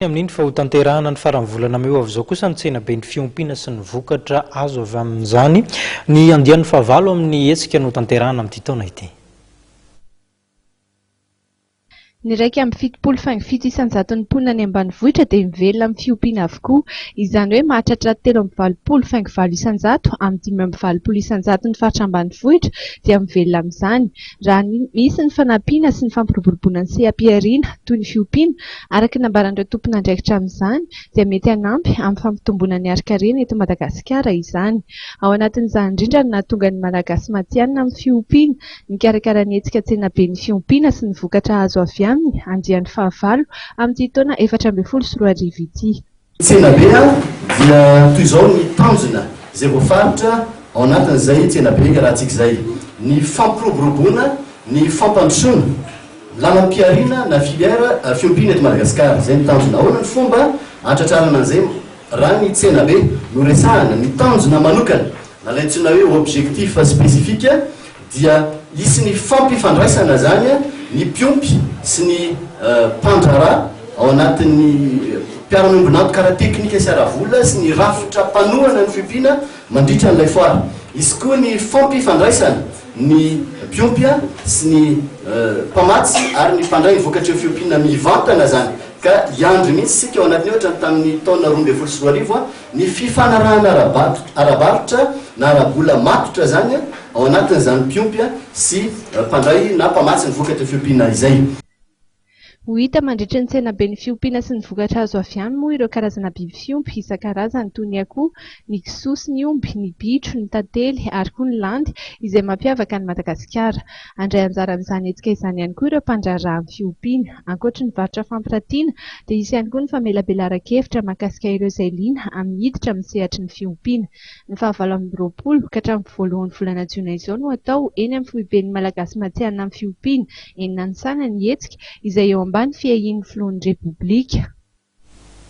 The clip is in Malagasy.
Ny amin' ny fa ho tanterahana ny faran'ny volana mey ho avy izao kosa ny tsenaben'ny fiompiana sy ny vokatra azo avy amin'izany. Ny andiany fahavalo amin'ny hetsika no tanterahana amin'ity taona ity. Ny iraika amby fitopolo faingo fito isan-jaton'ny mponina any ambanivohitra dia mivelona amin'ny fiompiana avokoa. Izany hoe mahatratra telo amby valopolo faingo valo isan-jato amin'ny dimy amby valopolo isan-jaton'ny faritra ambanivohitra dia mivelona amin'izany. Raha misy ny fanampiana sy ny fampiroboroboana ny seha-pihariana, toy ny fiompiana, araka ny nambaran'ireo tompon'andraikitra amin'izany, dia mety hanampy amin'ny fampitomboana ny harin-karena eto Madagasikara izany. Ao anatin'izany indrindra no nahatonga ny Malagasy matihanina amin'ny fiompiana, nikarakara ny hetsika Tsenaben'ny fiompiana sy ny vokatra azo avy aminy andiany fahavalo amin'ity taona efatra ambin'ny folo sy roa arivo ity. Tsenabe a, dia toy izao ny tanjona izay voafaritra ao anatin'izay tsenabe iarahantsika izay, ny fampiroboroboana ny fampandrosoana, lalam-pihariana na filière fiompiana eto Madagasikara. Izay ny tanjona. Ahoana ny fomba hahatratrarana an'izay raha ny tsenabe no resahana, ny tanjona manokana, na ilay antsoina hoe objectif spécifique, dia hisy ny fampifandraisana izany ny mpiompy sy ny mpandraharaha ao anatin'ny mpiara-miombon'antoka ara-teknika sy ara-vola sy ny rafitra mpanohana ny fiompiana mandritra an'ilay foara. Hisy koa ny fampifandraisana ny mpiompy sy ny mpamatsy ary ny mpandray ny vokatr'io fiompiana mivantana izany ka hiandry mihitsy isika ao anatin'io ohatran'ny tamin'ny taona roa ambin'ny folo sy roa arivo Ny fifanarahana ara-barotra, ara-barotra na ara-bola matotra izany ao anatin'izany mpiompy sy mpandray na mpamatsy ny vokatra fiompiana izay. Ho hita mandritra ny tsenaben'ny fiompiana sy ny vokatra azo avy any moa ireo karazana biby fiompy isan-karazany toy ny akoho, ny kisoa sy ny omby, ny bitro, ny tantely ary koa ny landy izay mampiavaka an'i Madagasikara. Handray anjara amin'izany hetsika izany ihany koa ireo mpandraharaha amin'ny fiompiana. Ankoatry ny varotra fampiratiana dia hisy ihany koa ny famelabelaran-kevitra mahakasika ireo izay liana amin'ny hiditra amin'ny sehatry ny fiompiana. Ny fahavalo amby roapolo ka hatramin'ny voalohan'ny volana jiona izao no hatao eny amin'ny foiben'ny Malagasy matihanina amin'ny fiompiana eny Nanisana ny hetsika izay eo ambany fiahian'ny filohan'ny Repoblika.